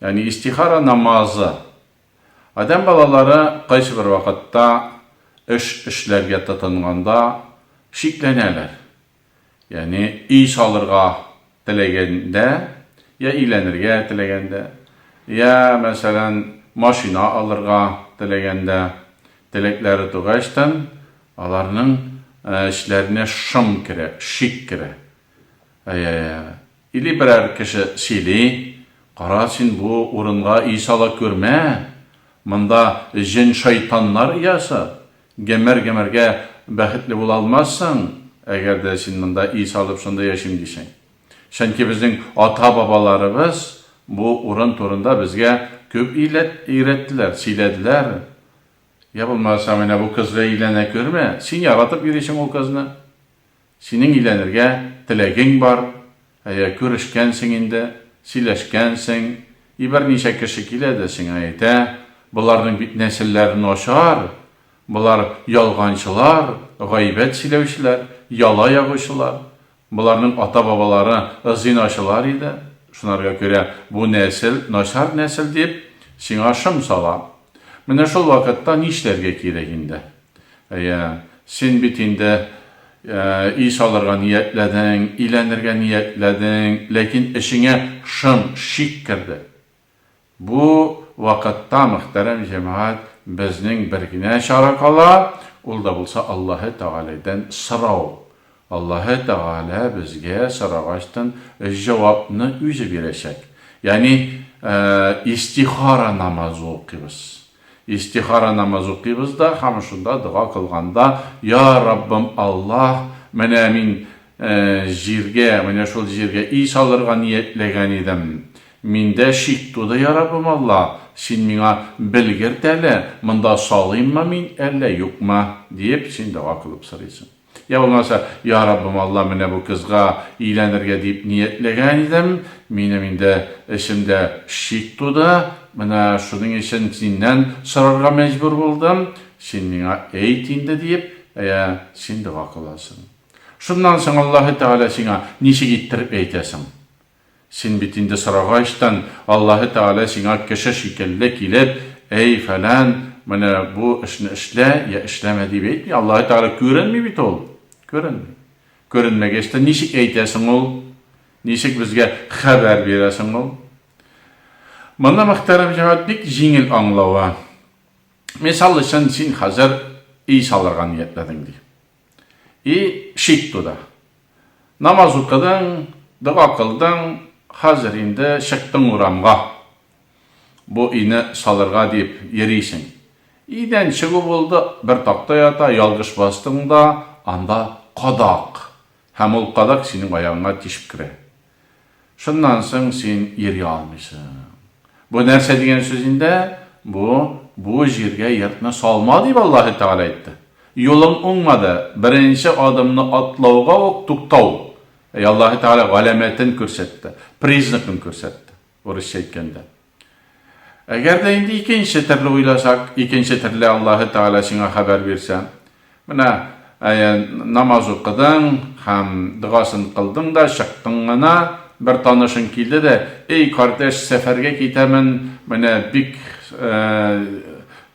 Ягъни истихара намазы. Адәм балалары кайсы бер вакытта эш эшләргә тотынганда шикләнәләр. Ягъни өй салырга теләгәндә, я өйләнергә теләгәндә, я, мәсәлән, машина алырга теләгәндә, теләкләре тугачтын, аларның эшләренә шом керә, шик керә. Әйе, Или берәр кеше сөйли, Кара, син бу урынга өй сала күрмә, монда җен-шайтаннар оясы, гомер-гомергә бәхетле була алмассың, әгәр дә син монда өй салып шунда яшим дисәң. Чөнки безнең ата-бабаларыбыз бу урын турында безгә күп өйрәттеләр, сөйләделәр. Йә булмаса, менә бу кызга өйләнә күрмә, син яратып йөрисең ул кызны. Синең өйләнергә теләгең бар, әйә, күрешкәнсең инде, сөйләшкәнсең, и берничә кеше килә дә сиңа әйтә, боларның бит нәселләре начар, болар ялганчылар, гайбәт сөйләүчеләр, яла ягучылар, боларның ата-бабалары зиначылар иде, шунарга күрә бу нәсел начар нәсел дип, сиңа шом сала. Менә шул вакытта нишләргә кирәк инде? Әйе, син бит инде өй салырга ниятләдең, өйләнергә ниятләдең, ләкин эчеңә шым, шик керде. Бу вакытта, мөхтәрәм җәмәгать, безнең бер генә чара кала, ул да булса Аллаһы Тәгаләдән сорау. Аллаһы Тәгалә безгә сорагачтын җавапны үзе бирәчәк. Ягъни истихара намазы укыйбыз. Истихара намазы укыйбыз да һәм шунда дога кылганда, Я Раббым Аллаһ, менә мин җиргә, менә шул җиргә өй салырга ниятләгән идем. Миндә шик туды, Я Раббым Аллаһ, син миңа белгерт әле, монда салыйммы мин, әллә юкмы? диеп син дога кылып сорыйсың. Я булмаса, Я Раббым Алла, менә бу кызга өйләнергә дип ниятләгән идем, минем инде эчемдә шик туды, менә шуның өчен Синнән сорарга мәҗбүр булдым, Син миңа әйт инде, диеп, әйә, син дога кыласың. Шуннан соң Аллаһы Тәгалә сиңа ничек иттереп әйтә соң? Син бит инде сорагачтын, Аллаһы Тәгалә сиңа кеше шикелле килеп, Әй, фәлән, менә бу эшне эшлә йә эшләмә, дип әйтми. Аллаһы Тәгалә күренми бит ул. Күренми. Күренмәгәч тә ничек әйтә соң ул? Ничек безгә хәбәр бирә соң ул? Моны мөхтәрәм җәмәгать бик җиңел аңлавы. Мисал өчен, син хәзер өй салырга ниятләдең, ди. И шик туда. Намаз укыдың, дога кылдың, хәзер инде чыктың урамга. Бу өйне салырга дип йөрисең. Өйдән чыгу булды, бер такта ята, ялгыш бастың да, анда кадак. Һәм ул кадак синең аягыңа тишеп керә. Шуннан соң син йөри алмыйсың. Бу нәрсә дигән сүз инде? Бу, бу җиргә йортны салма дип Аллаһы Тәгалә әйтте. Юлың уңмады, беренче адымны атлауга ук туктау. Әй, Аллаһы Тәгалә галәмәтен күрсәтте, признакын күрсәтте. Урысча әйткәндә. Әгәр дә инде икенче төрле уйласак, икенче төрле Аллаһы Тәгалә сиңа хәбәр бирсә, менә, әйе, намаз укыдың һәм догасын кылдың да чыктың гына, бер танышың килде дә, Эй, кардәш, сәфәргә китәмен, менә бик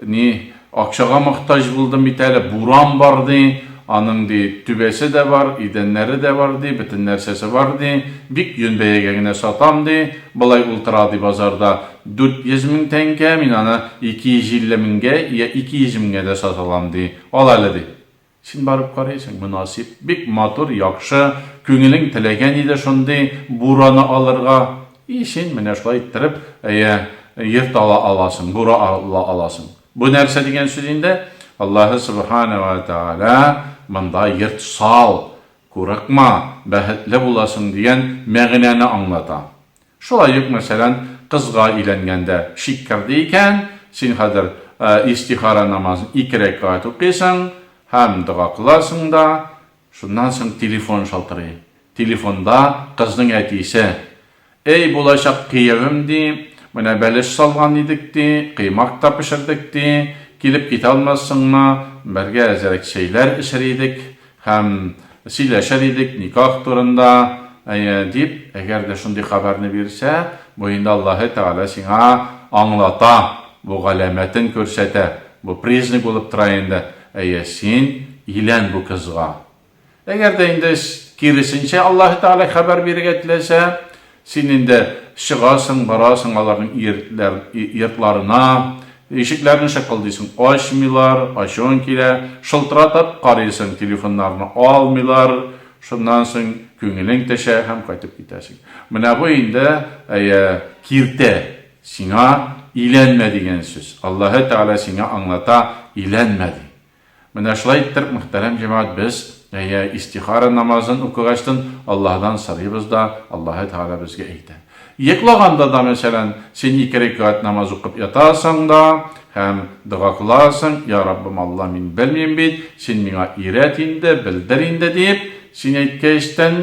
Ни, акчага мохтаҗ булдым бит әле, буран бар, ди, аның, ди, түбәсе дә бар, идәннәре дә бар, ди, бөтен нәрсәсе бар, ди, бик йон бәягә генә сатам, ди, болай ул тора, ди, базарда дүрт йөз мең тәңкә, мин аны ике йөз илле меңгә йә ике йөз меңгә дә сата алам, ди, ал әле, ди. Син барып карыйсың, мөнасиб, бик матур, яхшы, күңелең теләгән иде шундый бураны алырга, и син менә шулай иттереп, әйе, йорт ала аласың, бура ала аласың. Бу нәрсә дигән сүз инде? Аллаһы Сөбханә вә Тәгалә монда йорт сал, курыкма, бәхетле буласың дигән мәгънәне аңлата. Шулай ук, мәсәлән, кызга өйләнгәндә шик керде икән, син хәзер истихара намазын ике рәкәгать укыйсың һәм дога кыласың да, шуннан соң телефон шалтырый. Телефонда кызның әтисе, Әй, булачак киявем, ди, менә бәлеш салган идек, ди, коймак та пешердек, ди, килеп китә алмассыңмы, бергә әзрәк чәйләр эчер идек, Һәм сөйләшер идек никах турында, әйе, дип, әгәр дә шундый хәбәрне бирсә, бу инде Аллаһы Тәгалә сиңа аңлата, бу галәмәтен күрсәтә, бу признак булып тора инде, әйе, син илән бу кызга. Әгәр дә инде киресенчә Аллаһы Тәгалә хәбәр бирергә теләсә, Син инде чыгасың, барасың аларның йертләр, йортларына, ишекләрне шыкылдыйсың, ачмыйлар, ачуың килә, шылтыратып карыйсың, телефоннарны алмыйлар, шуннан соң күңелең төшә һәм кайтып китәсең. Менә бу инде, әйе, киртә, сиңа иләнмә дигән сүз. Аллаһы Тәгалә сиңа аңлата, иләнмә ди. Менә шулай иттерп, мөхтәрәм җәмәгать, без, әйе, истихара намазын укыгачтын, Аллаһыдан сорыйбыз да, Аллаһы Тәгалә безгә әйтә. Йоклаганда да, мәсәлән, син ике рәкәгать намаз укып ятасың да һәм дога кыласың, Йа Раббым Алла, мин белмим бит, син миңа өйрәт инде, белдер инде, диеп, син әйткәчтен,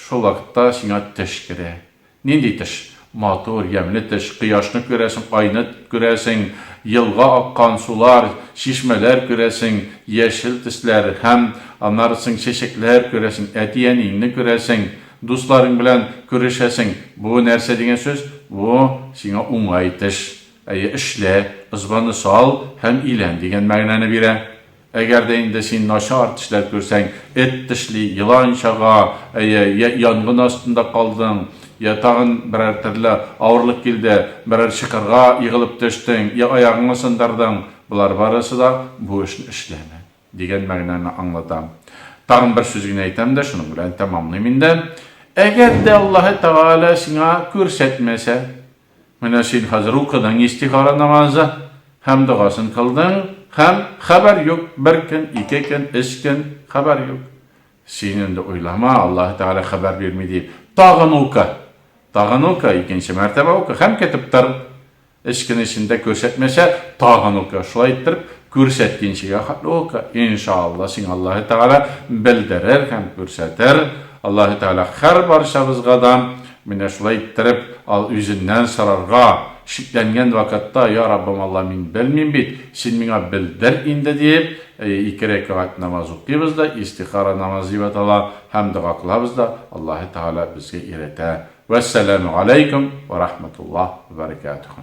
Шул вакытта сиңа төш керә. Нинди төш? Матур, ямьле төш. Кояшны күрәсең, айны күрәсең, елга аккан сулар, чишмәләр күрәсең, яшел төсләр һәм, аннары соң, чәчәкләр күрәсең, әти-әниеңне күрәсең, дусларың белән күрешәсең. Бу нәрсә дигән сүз? Бу, сиңа уңай төш. Әйе, эшлә, ызбаны сал һәм илән дигән мәгънәне бирә. Әгәр дә инде син начар тешләр күрсәң, эт тешли, елан чага, әйе, йә янгын астында калдың, йә тагын берәр төрле авырлык килде, берәр чокырга егылып төштең, йә аягыңны сындырдың, болар барысы да бу эшне эшләмә, дигән мәгънәне аңлата. Тагын бер сүз генә әйтәм дә, шуның белән тәмамлыйм инде. Әгәр дә Аллаһы Тәгалә сиңа күрсәтмәсә. Менә син хәзер укыдың истихара намазы һәм догасын кылдың, һәм, хәбәр юк, бер көн, ике көн, өч көн, хәбәр юк. Син инде уйлама, Аллаһы Тәгалә хәбәр бирми диеп, тагын укы, тагын укы, икенче мәртәбә укы һәм көтеп тор. Өч көн эчендә күрсәтмәсә, тагын укы, шулай иттереп, күрсәткенчегә хәтле укы. Иншаалла, сиңа Аллаһы Тәгалә белдерер һәм күрсәтер. Аллаһы Тәгалә һәрбарчабызга да Менә шулай иттереп, ал үзеннән сорарга, шикләнгән вакытта, Я Раббым Алла, мин белмим бит, Син миңа белдер инде, диеп, ике рәкәгать намаз укыйбыз да, истихара намазы дип атала, һәм дога кылабыз да, Аллаһы Тәгалә безгә өйрәтә. Вәссәламү галәйкүм вә рахмәтуллаһ вә бәрәкәтүһү.